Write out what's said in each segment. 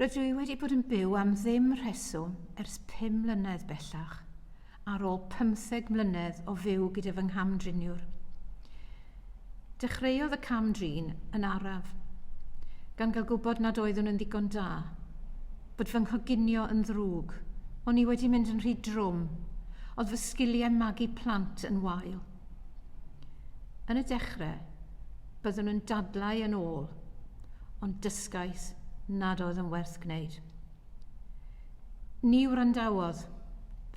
Rydw i wedi bod yn byw am ddim rheswm ers pum mlynedd bellach, ar ôl pymtheg mlynedd o fyw gyda fy ngham-driniwr. Dechreuodd y cam-drin yn araf, gan gael gwybod nad oeddwn yn ddigon da, bod fy nghoginio yn ddrwg, o'n i wedi mynd yn rhy drwm, oedd fy sgiliau magu plant yn wael. Yn y dechrau, byddwn yn dadlau yn ôl, ond dysgais nad oedd yn werth gwneud. Ni wrandawodd,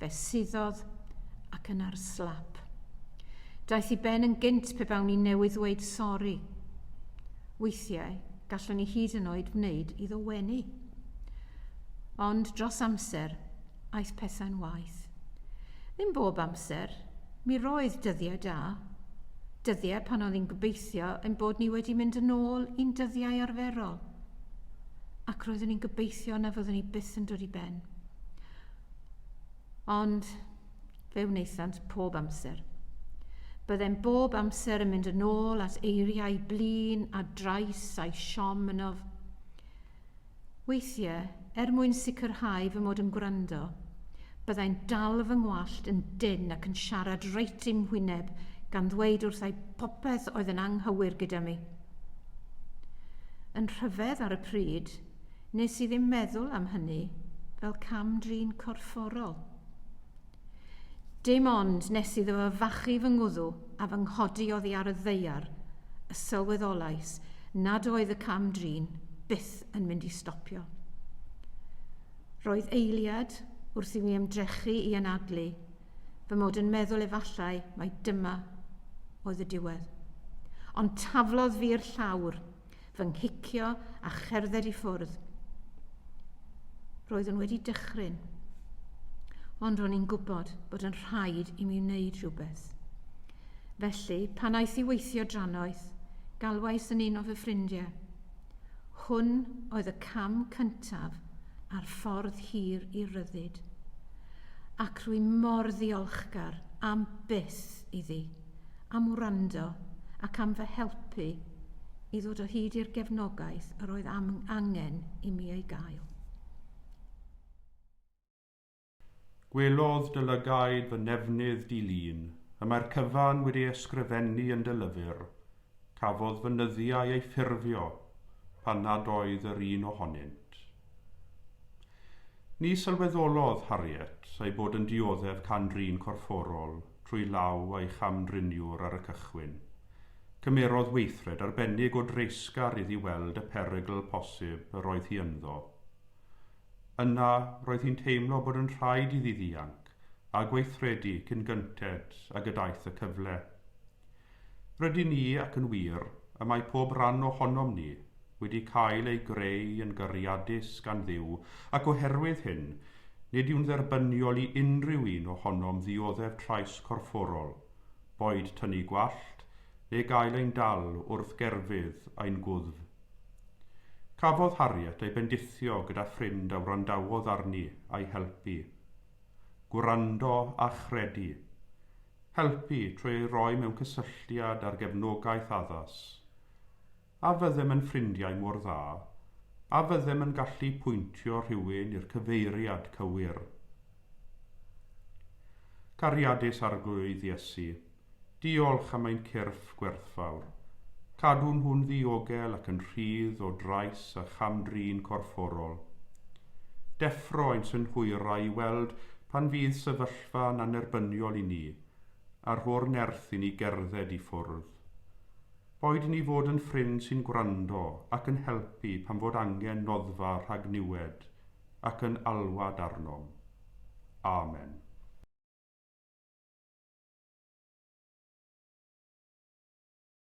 fe suddodd ac yn ar slap. Daeth i ben yn gynt pe bawn i newydd ddweud sori. Weithiau, gallwn i hyd yn oed wneud iddo wenu. Ond dros amser, aeth pethau'n waeth. Ddim bob amser, mi roedd dyddiau da. Dyddiau pan oedd hi'n gobeithio ein bod ni wedi mynd yn ôl i'n dyddiau arferol. Ac roeddwn i'n gobeithio na fyddwn ni byth yn dod i ben. Ond fe wnaethant pob amser. Byddem bob amser yn mynd yn ôl at eiriau blin a drais a'i siom ynof. Weithiau, er mwyn sicrhau fy mod yn gwrando, byddai'n dal fy ngwallt yn dynn ac yn siarad reit i'm hwyneb gan ddweud wrthai popeth oedd yn anghywir gyda mi. Yn rhyfedd ar y pryd, nes i ddim meddwl am hynny fel cam-drin corfforol. Dim ond nes iddo fo fachu fy ngwddw a fy nghodi oddi ar y ddaear y sylweddolais nad oedd y cam-drin byth yn mynd i stopio. Roedd eiliad wrth i mi ymdrechu i anadlu fy mod yn meddwl efallai mai dyma oedd y diwedd. Ond taflodd fi'r llawr, fy nghicio a cherdded i ffwrdd. Roeddwn wedi dychryn, ond ro'n i'n gwybod bod yn rhaid i mi wneud rhywbeth. Felly, pan aeth i weithio drannoeth, galwais yn un o fy ffrindiau. Hwn oedd y cam cyntaf ar ffordd hir i'r ryddid. Ac rwy mor ddiolchgar am byth iddi. am wrando ac am fy helpu i ddod o hyd i'r gefnogaeth yr oedd am angen i mi ei gael. Gwelodd dy lygaid fy nefnydd di-lun, y mae'r cyfan wedi ei ysgrifennu yn dy lyfr, cafodd fy nyddiau eu ffurfio pan nad oedd yr un ohonynt. Ni sylweddolodd Harriet ei bod yn dioddef can-drin corfforol, trwy law a'i cham-driniwr ar y cychwyn. Cymerodd weithred arbennig o dreisgar iddi weld y perygl posib yr oedd hi ynddo. Yna, roedd hi'n teimlo bod yn rhaid iddi ddianc a gweithredu cyn gynted ag y daeth y cyfle. Rydyn ni, ac yn wir, y mae pob rhan ohonom ni, wedi cael ei greu yn gariadus gan Dduw, ac oherwydd hyn, nid yw'n dderbyniol i unrhyw un ohonom ddioddef trais corfforol, boed tynnu gwallt, neu gael ein dal wrth gerfydd ein gwddf. Cafodd Harriet ei bendithio gyda ffrind a wrandawodd arni a'i helpu. Gwrando a chredu. Helpu trwy ei roi mewn cysylltiad â'r gefnogaeth addas. A fyddem yn ffrindiau mor dda? A fyddem yn gallu pwyntio rhywun i'r cyfeiriad cywir? Cariadus Arglwydd Iesu, diolch am ein cyrff gwerthfawr. Cadw nhw'n ddiogel ac yn rhydd o drais a cham-drin corfforol. Deffro ein synhwyrau i weld pan fydd sefyllfa sefyllfa'n annerbyniol i ni a rho'r nerth i ni gerdded i ffwrdd. Boed i ni fod yn ffrind sy'n gwrando ac yn helpu pan fod angen noddfa rhag niwed ac yn alwad arnom. Amen.